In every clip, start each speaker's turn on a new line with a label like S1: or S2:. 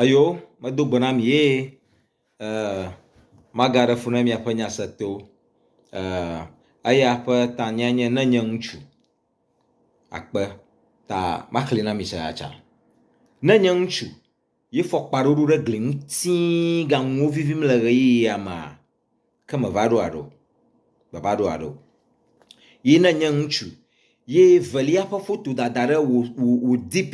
S1: Eyo medo gbe na mi ye maga ɖe funu miaƒe nya se to. Eya ƒe tanya nye ne nye ŋutsu akpe ta maxli na mi se ya tsa. Ne nye ŋutsu ye fɔkpa ɖoɖo ɖe gli nu tii ganuwo vivim le ʋeyiɣia mea ke me va ɖo aɖo me va ɖo aɖo. Ye ne nye ŋutsu ye velia ƒe foto dada ɖe wò wò wò dp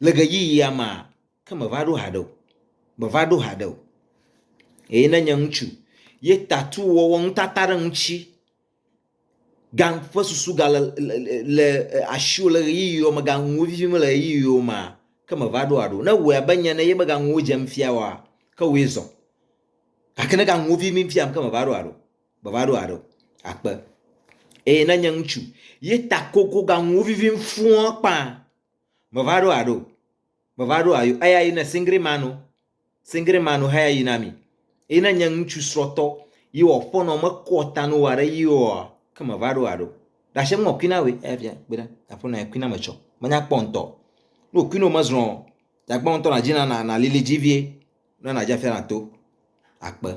S1: Le ɣeyiɣia mea, ke meva ɖo haɖe o. Meva ɖo haɖe o. Eye ne nye ŋutsu ye tatu wɔwɔ nutata ɖe ŋuti ga ƒe susu gale le asiwò le ɣeyiɣiwo me ganuwo vivim le ɣeyiɣiwo mea, ke meva ɖo haɖe o. Ne wòe abe nye ene ye mega nuwo dzem fia oa, ke wòe zɔ. Gake ne ganuwo vivim fiam ke meva ɖo haɖe o. Meva ɖo haɖe o. Akpe. Eye ne nye ŋutsu ye ta kokoganuwo vivim fũɔ kpã Meva ɖo aɖo. Meva ɖo ayo. Eya yi ne singri manu. Singri manu haya yi na mi. Yi ne nye ŋutsu srɔtɔ. Yi wɔ fɔnɔ me kɔ tanu wa ɖe yi wɔ. Ke meva ɖo aɖo. Dashe ŋɔ kuina we. Eya fia kpena. Apo na kuina me tsɔ. Manya kpɔ ŋtɔ. No kuino me zrɔ. Jagba ŋtɔ na jina na na lili ji vie. Na na jafia na to. Akpe.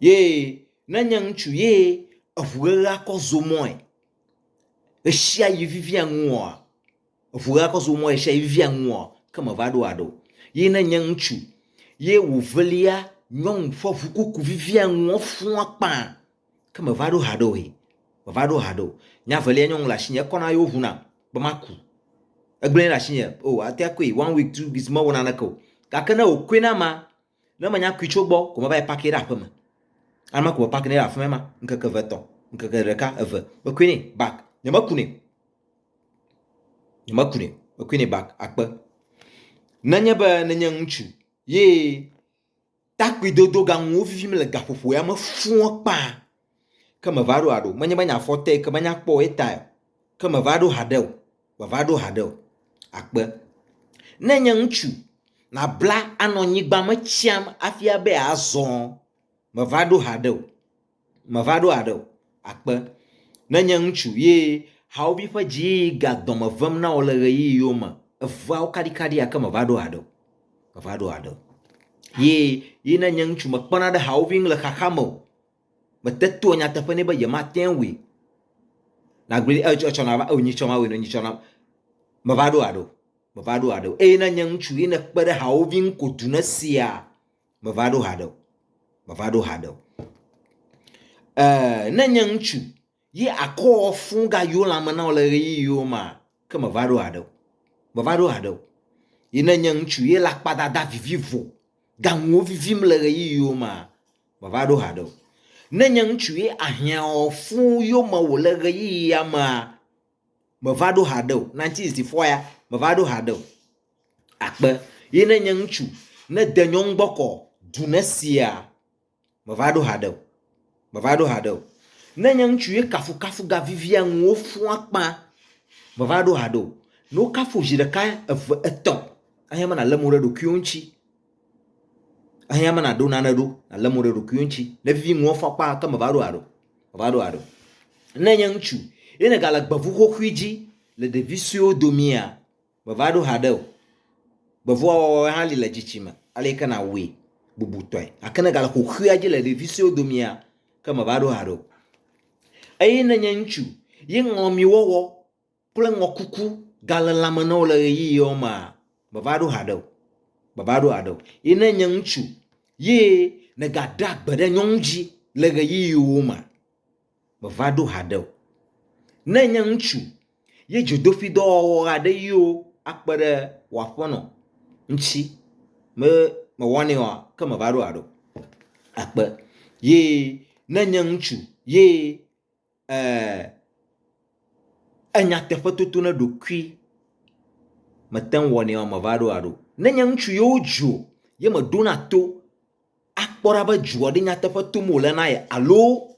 S1: Ye ne nye ŋutsu ye evu ɣeɣe akɔ zomɔe. ɣeshiaɣi vivia nuŋua, eŋu ɣe akɔ zɔ mɔ ɣeshiaɣi vivia nuŋua, ke me va ɖo aɖe o. Ye ne nye ŋutsu ye wòvelia nyɔnu ƒe ŋukuku vivia nuɔ fua kpã, ke me va ɖo haɖe o he, me va ɖo haɖe o. Nya velia nyɔnu le asinye, ekɔ na yewo ŋu nam be maku. Egblɔe ɖe asinye, o ate akui one week, two weeks, mewɔ naneke o. Gake ne wòkɔe na ma, Ne menya kui tso gbɔ ko meva yi paki ɖe aƒe me. Alema ko me paki nɛ ɖe aƒe me ma ŋkeke eve etɔ̃, ŋkeke ɖeka eve mekui nɛ bak nye meku nɛ. Nye meku nɛ mekui nɛ bak akpe. Nenye be nenye ŋutsu ye takpui dodo gaŋuwo fifim le gaƒoƒo ya me fua kpa. Ke meva ɖo haɖe o. Menye be nye afɔ te ke menya kpɔ o etae o. Ke meva ɖo haɖe o. Meva ɖo haɖe o. Akpe. Ne nye ŋutsu nabla anɔ nyigba me tsam hafi abe azɔ. Meva ɖo haɖe o. Meva ɖo haɖe o. Akpe. Ne nye ŋutsu ye hawòvi ƒe dziyiyi ga dɔme vem na wò le ɣeyiɣiwo me evea wo kaɖikaɖia ke meva ɖo haɖe o. Meva ɖo haɖe o. Ye ye ne nye ŋutsu mekpɔna ɖe hawòvi ŋu le xaxa me o. Mete toa nyateƒe nɛ be yemate ŋui. Nagblɔe be etsɔ etsɔ na va eo nyitsɔ ma weno nyitsɔ na. Meva ɖo aɖe o. Meva ɖo aɖe o. Eye ne nye ŋutsu ye nekpe ɖe hawòvi ŋu ko du ne sia meva ɖo aɖe o. Meva ɖo aɖe o. Eee ne nye ŋutsu Ye akɔ fũ gayo lãme na wò le ɣeyiɣiwo ma ke meva ɖo haɖe o, meva ɖo haɖe o. Ye ne nye ŋutsu ye le akpadada vivivo gaŋuwo vivim le ɣeyiɣiwo ma, meva ɖo haɖe o. Ne nye ŋutsu ye ahiã ɔ fũ yo me wò le ɣeyiɣia mea, meva ɖo haɖe o, 1964 ya, meva ɖo haɖe o. Akpe, ye ne nye ŋutsu ne de nyɔŋ gbɔ kɔ du ne sia, Meva ɖo haɖe o. Meva ɖo haɖe o. Ne nye ŋutsu ye kafukafu ga vivia ŋuwò fũ akpã. Meva ɖo haɖe o. Ne wo kafu wò zi ɖeka, eve, etɔ̃, ehiã be nàle mo ɖe ɖokuiwò ŋuti. Ehiã be nàɖo nane ɖo nàle mo ɖe ɖokuiwò ŋuti. Ne vivi ŋuwò fũ akpã ke meva ɖo haɖe o. Meva ɖo haɖe o. Ne nye ŋutsu ye nègale gbeŋu xoxoe dzi le ɖevi suewo domea, Meva ɖo haɖe o. Gbevɔa wɔwɔe hã li le tsitsi me, ale ke nàwui bubutɔe. Gake ne ègale xoxoea dzi le ɖevi suewo domea, ke meva ɖo haɖe o. Eye ne nye ŋutsu ye ŋlɔ mi wɔwɔ kple ŋɔkuku gale lãme na wò le ɣeyiɣiwo mea, meva ɖo haɖe o. Meva ɖo haɖe o. Ye ne nye ŋutsu ye nègaɖea gbe ɖe nyɔnu dzi le ɣeyiɣiwo mea, meva ɖo haɖe o. Ne enye ŋutsu ye dzodoƒidɔwɔwɔ aɖe yio akpe ɖe wò aƒenɔ ŋuti be mewɔnɛ oa, ke meva ɖo haɖe o. Akpe. Ye ne enye ŋutsu ye e enyateƒetoto na eɖokui mete ŋu wɔnɛ oa, meva ɖo haɖe o. Ne enye ŋutsu ye wodzo ye meɖona to akpɔ ɖa be dzoa ɖe nyateƒe tom wòle na ye alo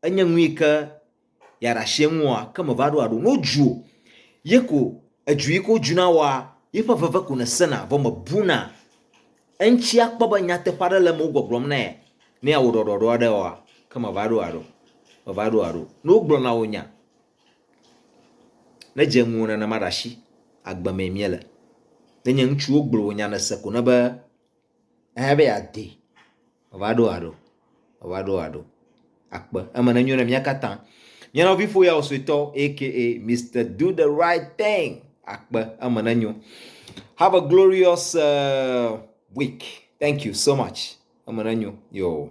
S1: enye nu yi ke yeaɖe asi eŋu oa, ke meva ɖo aɖo. Ne wodzu wò ye ko edzu yi ke wodzu na wòa, yeƒe veve ko nèsena vɔ mèbuna eŋuti akpɔ be nyateƒe aɖe le eme wogbɔgblɔm na ye ne yeawɔ ɖɔɖɔɖɔ aɖe oa, ke meva ɖo aɖo. Meva ɖo aɖo. Ne wogblɔ na wò nya, ne dze ŋuwò nenema ɖe asi, agbe mee míele. Ne nye ŋutsu wogblɔ wò nya nèse ko ne be ehe be yeadi, wòava ɖo aɖo, wòava ɖo aɖo akpe. Eme nenyo na mía katã. Nye nɔviƒoyawo suetɔ aka Mister Do the Right Thing akpe. Eme nenyo. Have a glorious uh, week. Thank you so much. Eme nenyo. Yo.